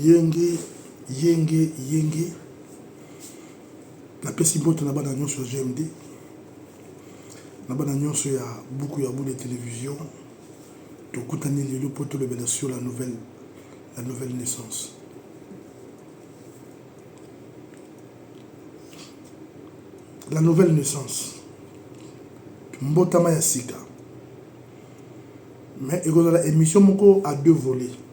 Yenge yenge yenge napesi mbote na bana nyonso ya GMD na bana nyonso ya buku ya bule television tokutani lelo mpo tolobela sur la nouvelle la nouvelle naissance la nouvelle naissance mbotama ya sika mais ekozala émission moko à deux volets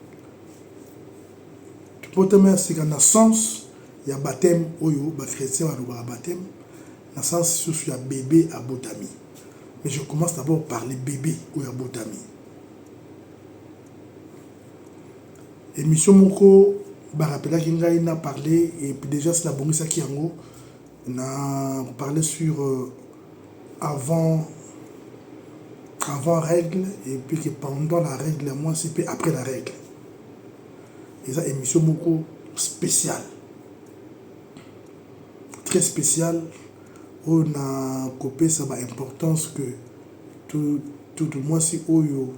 Boteme ya sika na sens ya bapteme oyo ba chretiens balobaka bapteme na sens susu ya bebe abotami mais je commence d'abord par le bebe oyo abotami. Emission moko ba rappelaki ngai na parler et dejà si nabongisaki yango na parler sur avant avant règle et puis que pendant la règle ya mwasi mpe après la règle eza émission moko spéciale très spéciale oyo na kopesa ba importance que tout tout mwasi oyo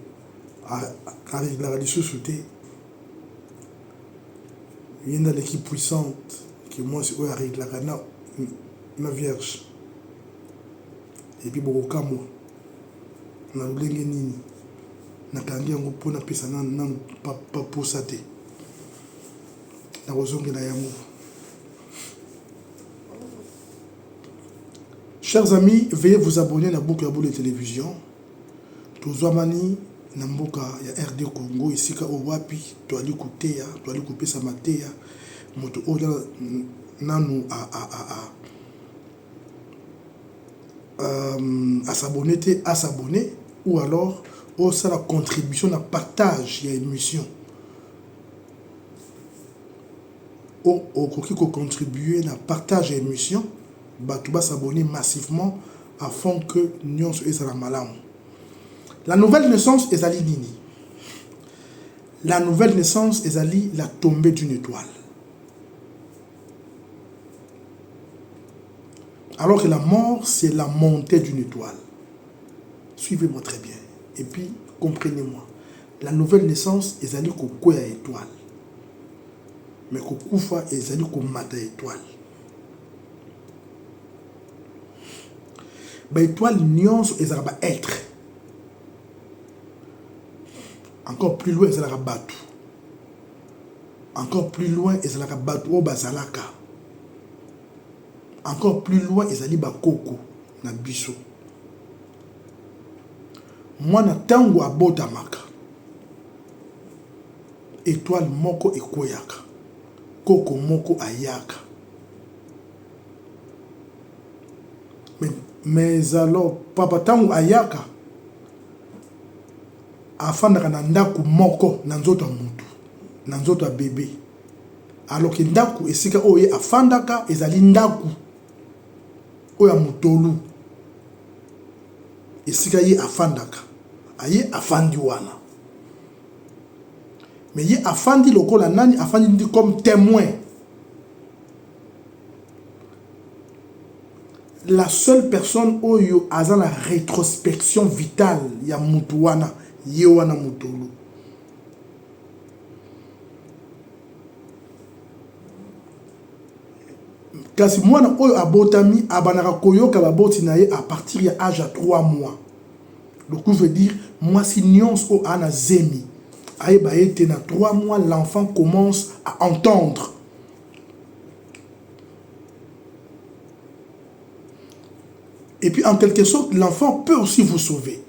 areglaka lisusu te Ye nde aleki puissante que muasi oyo a reglaka na vierge et puis boko kamua na lolenge nini na kangi yango po na pesa nanu pa posa te na kozongela yango. Chers amis, veuillez vous abonner na Buku ya Bule Television. Tozwamani na mboka ya RD Congo esika oyo wapi toali koteya, toali kopesa mateya moto oyo nanu a s'abonner te a s'abonner ou alors osala contribution na partage ya emission. Okoki ko contribuer na partage ya emission. batu ba s'abonner massivement afin que nionso ezala malamu. La nouvelle naissance ezali nini? La nouvelle naissance ezali la tombee d'une etoile. Alors que la mort c'est la montee d'une etoile. Suivez moi très bien et puis comprenez moi. La nouvelle naissance ezali ko kweya etoile. Mais ko kufa ezali ko mata etoile. ba etoile nionso ezalaka ba etre encore plus loin ezalaka batu encore plus loin ezalaka batu oyo bazalaka encore plus loin ezali bakoko na biso mwana ntango abotamaka etoile moko ekweyaka Koko moko ayaka mais alors papa tangu ayaka afandaka na ndaku moko na nzoto ya mutu na nzoto ya bebe alors que ndaku esika oyo ye afandaka ezali ndaku oyo ya mutolu esika ye afandaka aye afandi wana Mais ye afandi lokola nani afandi ndi comme temoin la seule personne oyo aza na retrospection vital ya mutu wana ye wana mutolu kasi mwana oyo abotami abandaka koyoka baboti na ye apartir ya age ya 3 mois Lokuzu veut dire mwasi nionso oyo aa na zemi ayeba ete na trois mois l'enfant commence à entendre. Et puis en quelque sorte l'enfant peut aussi vous sauver.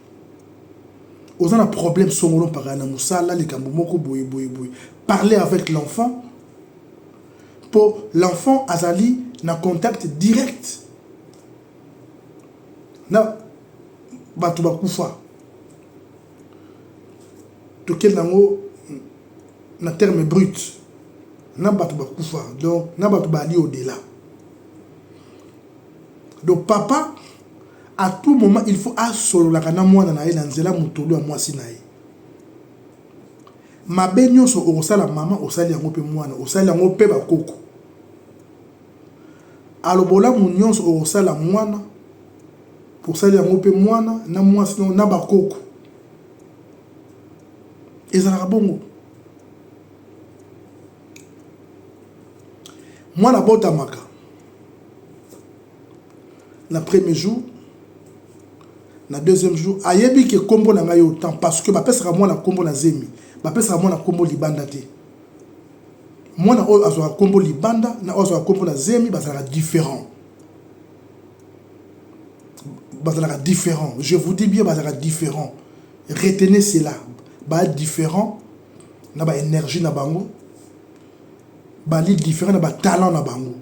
Oza na problème songolo mpaka na musala likambo moko boye boye boye. Parlez avec l'enfant mpo l'enfant azali na contact direct na bato bakufa tokende yango na terme brut na bato bakufa donc na bato bali odela donc papa à tout moment il faut asololaka na mwana na ye na nzela motolu ya mwasi na ye mabe nyonso okosala mama osali yango mpe mwana osali yango mpe bakoko Alo bolamu nionso okosala muana osali yango pe muana na muasi na yo na ba koko ezalaka bongo muana abotamaka na premier jour na deuxième jour ayebi ke kombo na ngai otan parce que bapesaka muana kombo na zemi bapesaka muana kombo libanda te mwana oyo azwaka nkombo libanda na oyo azwaka nkombo na zemi bazalaka différent bazalaka différent je vous dis bien bazalaka différent retenez cela ba différent na ba énergie na bango bali différent na ba talent na bango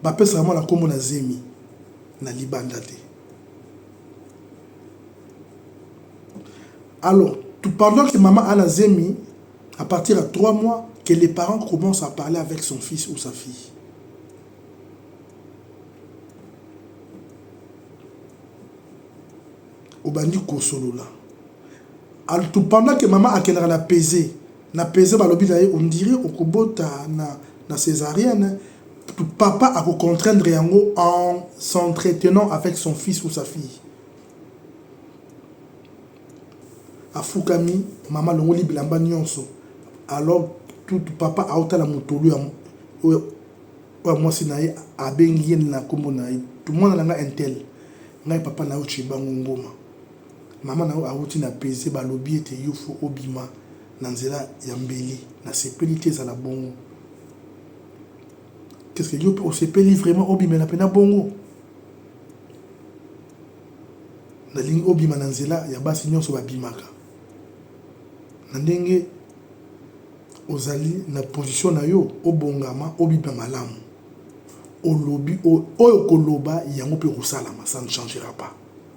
bapesaka mwana nkombo na zemi na libanda te Alors pendant que maman a na zemi à partir ya 3 mois que les parents commencent à parler avec son fils ou sa fille. Obandi kosolola. Alors pendant que maman akendaka na peze Na peze balobi na ye ondire okobota na na cesarienne papa ako contraindre yango en s'entretenant avec son fils ou sa fille afukami mama alongoli bilamba nionso alors tout papa aotala motolu ya oyo oyo mwasi na ye abengi ye na kombo na ye mwana na nga intel ngai papa na yo tshibangu ngoma Maman na yo awuti na peze balobi ete yo faut obima na nzela ya mbeli nasepeli te ezala bongo Qu'est ce que yo pe osepeli vraiment obimela pena bongo nalingi obima na nzela ya basi nyonso babimaka na ndenge ozali na position na yo obongama obima malamu olobi oyo koloba yango pe kosalama ça ne changera pas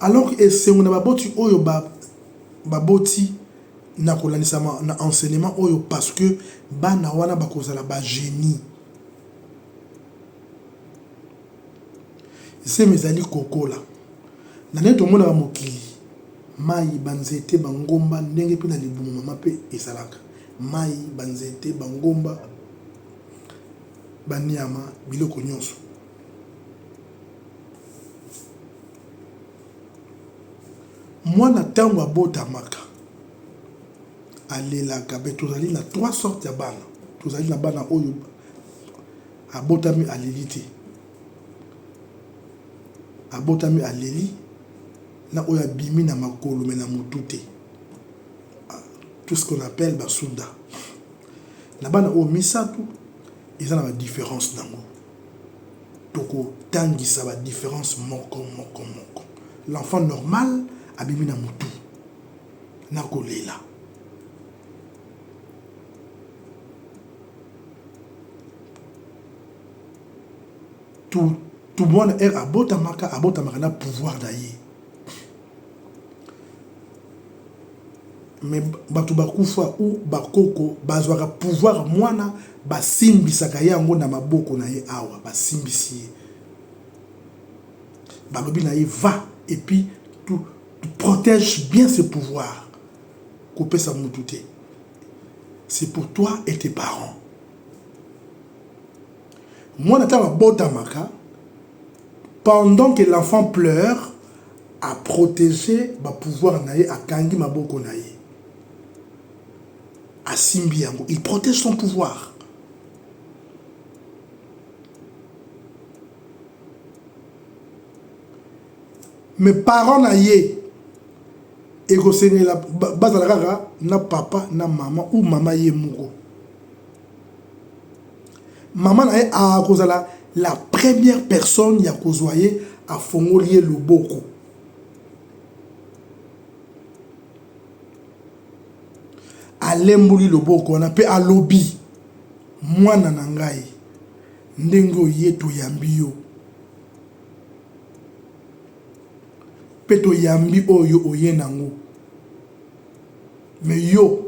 Alors que esengo na baboti oyo ba baboti na kolandisama na enseignement oyo parce que bana wana bakozala ba genie. Zemi ezali kokola na ndenge tomonaka mokili mayi, ba nzete, ba ngomba ndenge mpe na libumu mama mpe ezalaka mayi, ba nzete, ba ngomba, ba niama biloko nionso. Mwana ntango abotamaka alelaka mpe tozali na trois sortes ya bana. Tozali na bana oyo abotami aleli te, abotami aleli na oyo abimi na makolo me na motu te, tout ce qu'on appelle basuda. Na bana oyo misato eza na ba difference nango. toko tangisa ba difference moko moko moko l'enfant normal abimi na mutu na kolela tu tu mwana heure abotamaka abotamaka na pouvoir na ye Mais batu ba kufa ou ba koko ba zwaka pouvoir muana ba simbisaka ye yango na maboko na ye awa ba simbisi ye ba lobi na ye va et puis tu protège bien ce pouvoir ko pesa mutu te c'est pour toi et tes parents muana tango abotamaka Pendant que l'enfant pleure, a proteger ba pouvoirs na ye, akangi maboko na ye, asimbi yango, il protège son pouvoir. Mais parents na ye, ekosengela bazala kaka na papa na maman ou maman ye moko. Maman na ye a kozala la première personne ya kozua ye afongoli ye loboko. Alemboli loboko wana pe alobi mwana na ngai ndenge oye toyambi yo pe toyambi oyo oye nango mais yo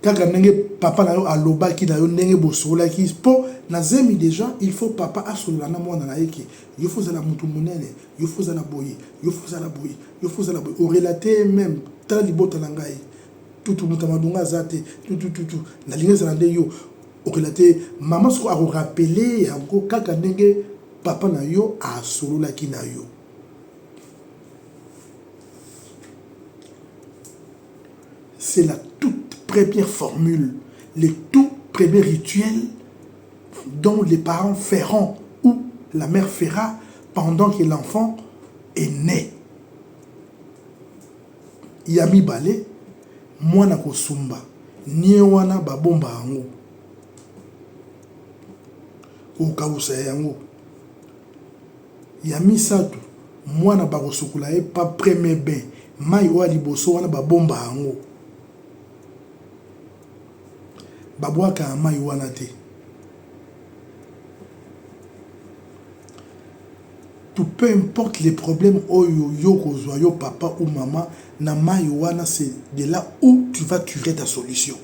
kaka ndenge papa na yo alobaki na yo ndenge bosololaki mpo na zemi deja il faut papa asolola na mwana na ye ke yo faut ozala motu monene yo faut ozala boye yo faut ozala boye yo faut ozala boye orelate ye meme tala libota na ngai tutu moto ya madonga aza te tutututu nalingi ezala nde yo orelate ye mama soko akorapele yango kaka ndenge papa na yo asololaki na yo C'est la toute première formule, le tout premier rituel dont les parents feront ou la mère fera pendant que l'enfant est né. Ya mibale, mwana kosumba nie wana babomba yango, kokausa yango. Ya misatu mwana bako sukola ye pa premier bain mayi oyo ya liboso wana ba bomba yango ba bwaka ya mayi wana te tu peu importe les problèmes oyo yo okozua yo papa ou maman na mayi wana c'est de là ou tu va turer ta solution.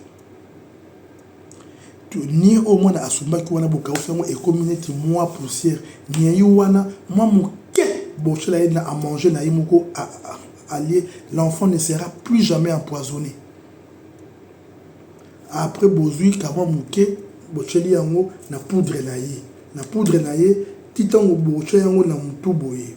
Niei oyo mwana asumbaki wana bokausi yango ekomi neti mua poussière. Niei wana mua moke botiela ye na manger na ye moko alie, l'enfant ne sera plus jamais empoisonne. Après bozui ka mua moke botieli yango na poudre na ye, na poudre na ye ti tango botia yango na mutu boye.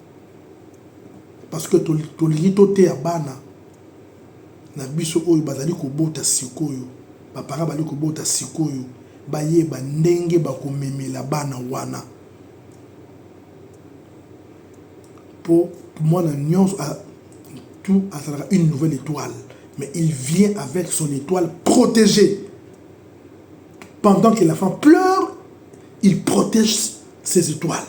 parce que tolingi toteya bana na biso oyo bazali kobota sikoyo ba parents bazali kobota sikoyo bayeba ndenge bakomemela bana wana mpo mwana nyonso tout azalaka une nouvelle étoile mais il vient avec son étoile protégée pendant que la femme pleure il protège ses étoiles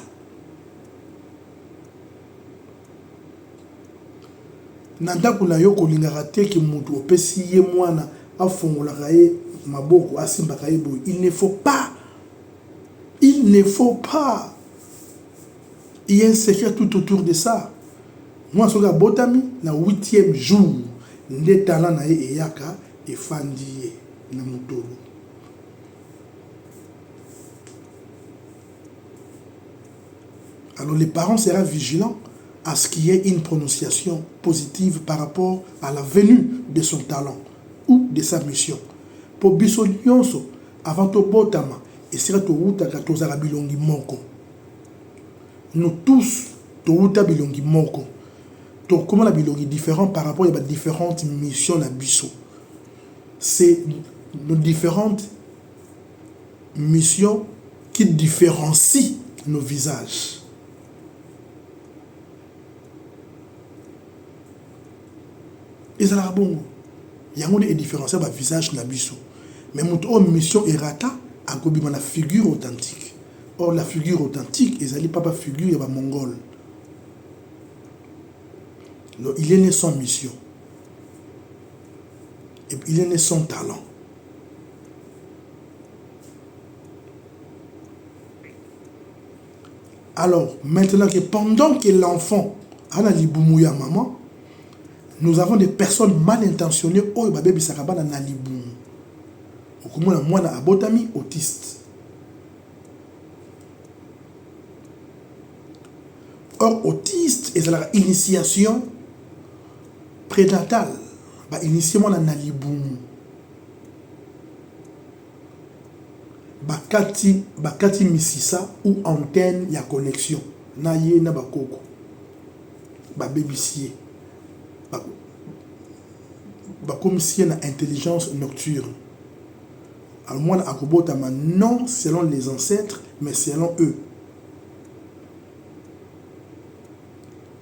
Na ndako na yo kolingaka te que mutu opesi ye mwana afongolaka ye maboko asimbaka ye boye il ne faut pas il ne faut pas il ya un secret tout autour de ça mwana soki abotami na huitième jour nde talent na ye eyaka efandi ye na motolu Alors le parent sera vigilant à ce qu'il y ait une prononciation positive par rapport à la venue de son talent ou de sa mission. Po biso nionso avant tobotama esika towutaka tozalaka bilongi moko. Nous tous towuta bilongi moko. Tokoma na bilongi differents par rapport ya ba differentes missions na biso. C'est nos differentes mission qui differencie nos visages. Ezalaka bongo. Yango nde e differencia ba visages na biso. Mais moto oyo mission e rata akobima na figure authentique. Or la figure authentique ezali papa figure ya ba mongol. Donc il est né sans mission. Et il est né sans talent. Alors maintenant que pendant que l'enfant a na libumu ya maman, nous avons des personnes mal intentionnées oyo babebisaka bana na libumu. Okomona mwana abotami autiste. Or autiste ezalaka initiation prénatale, ba initie mwana na libumu. bakati misisa ou antenne ya connexion na ye na ba koko babebisi ye bakomisi ye na intelligence nocturne alors mwana akobotama non selon les ancetres mais selon eux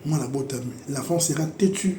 mwana abotami l'enfant sera têtu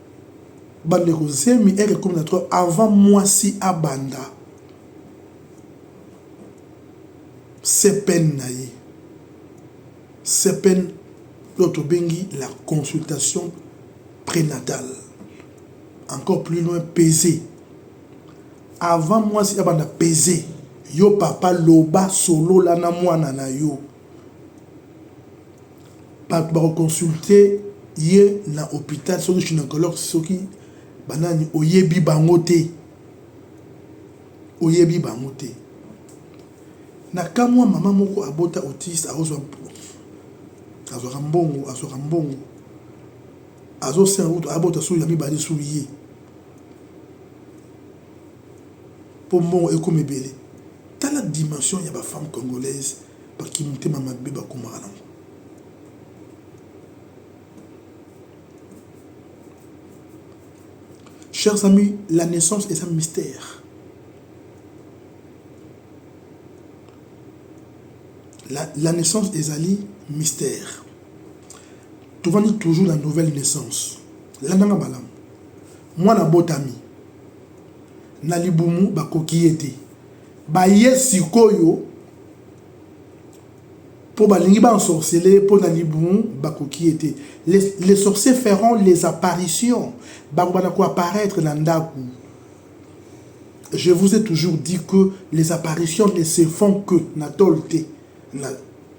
Bandeko zemi heure ekomi na trop avant muasi abanda CPN na ye. CPN oyo tobengi la consultation prenatale encore plus loin peze avant muasi abanda peze yo papa loba solola na muana na yo. Batu bako consulte ye na hopital soki gynecologue soki ba nani oyebi bango te oyebi bango te na kamua maman moko abota autiste azua azuaka mbongo azuaka mbongo azo senga kutu abota sur ya mibale sur ye po mbongo ekomi ebele Tala dimension ya ba femmes congolaises ba kimutema mabe bakomaka nango. Chers amis, la naissance eza mystère. La, la naissance ezali mystère. Tovandi toujours la nouvelle naissance. Landanga malamu. Mwana botami na libumu bakoki ye te baye sikoyo po balingi ba ensorcele ye po na libumu bakoki ye te les, les sorciers feront les apparitions bakobanda ko apparaître na ndaku je vous ai toujours dit que les apparitions ne se font que na tol te na,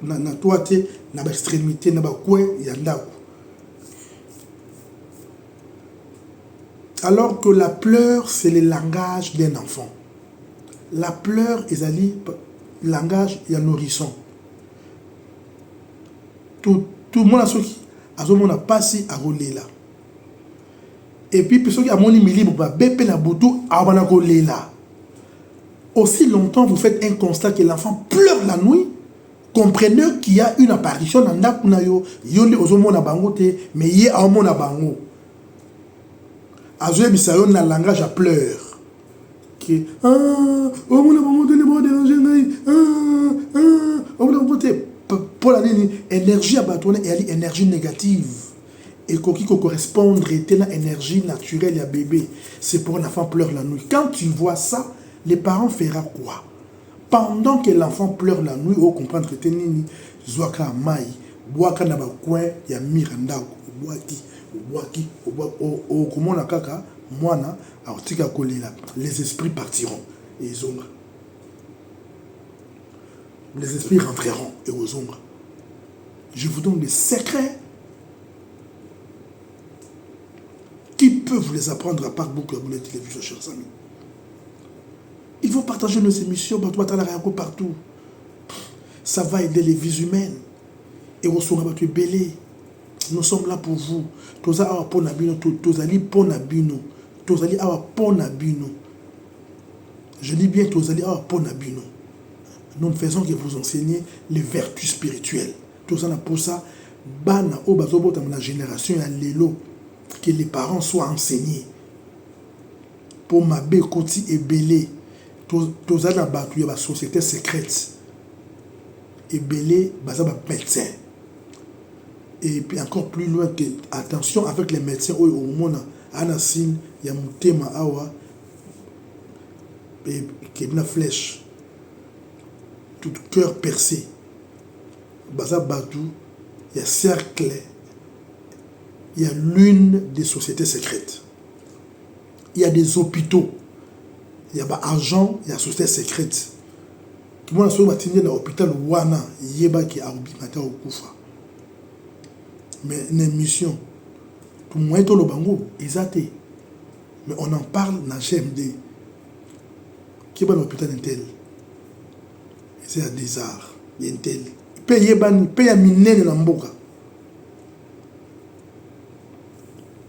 na, na toi te na ba extrémité na ba coin ya ndaku Alors que la pleure c'est le langage d'un enfant. La pleure ezali langage ya nourrisson. Tomona soki azomona mpasi akolela. Epuis soki amoni milimu babe mpe na butu abana kolela. Aussi longtemps vous faites un constat que l'enfant pleure la nuit, Comprenez qu'il y a une apparition na ndaku na yo, yo nde ozo mona bango te mais ye ao mona bango. Azo yebisa yo na langage ya pleur que ah o mona bango te nde bao deranger ngai ah ah o mona bango te pona nini energie ya bato wana eyali energie negative ekoki ko correspondre te na energie naturelle ya bebe c'est pour l'enfant pleure la nuit quand tu vois ça les parents fera quoi Pendant que l'enfant pleure la nuit o comprendre te nini? Zua ka mayi buaka na ba coin ya mur ya ndaku obuaki obuaki obuaki okomona kaka muana akotika kolela les esprits partiront ezonga les esprits rentreront ekozonga je vous donne des secrets qui peut vous les apprendre à part beaucoup ya boule télévision chers amis Il faut partager nos emissions batu batalaka yango partout ça va aider les vies humaines ekosunga batu ebele nous sommes là pour vous toza awa mpo na bino tozali mpo na bino tozali awa mpo na bino je dis bien tozali awa mpo na bino nous ne faisons que vous enseigner les vertus spirituelles toza na mposa bana oyo bazobotama na génération ya lelo que les parents soient enseignés Po mabe ekoti ebele toza na batu ya ba societe secrete ebele baza ba medecin et encore plus loin que attention avec les medecin oyo okomona aza na signe ya mutema awa ekebi na flèche tout cœur perce baza batu ya cercle ya lune de societe secrete. ya des hopitaux ya ba agent ya societe secrete kimona soki batindi ye na hopital wana yeba ke akobima te akokufa mais na emission moyen toloba yango eza te mais on en parle na gmd keba na hopital intel eza ya des arts ya intel mpe eyebani mpe ya minene na mboka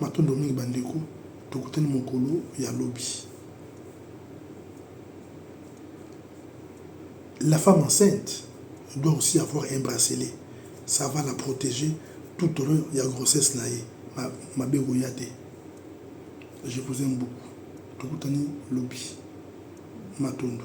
Matondo mingi ba ndeko tokutani mokolo ya lobi. La femme enceinte doit aussi avoir un bracelet ça va la proteger tout au long ya grossesse na ye mabe ekoya te je vous aime beaucoup tokutani lobi matondo.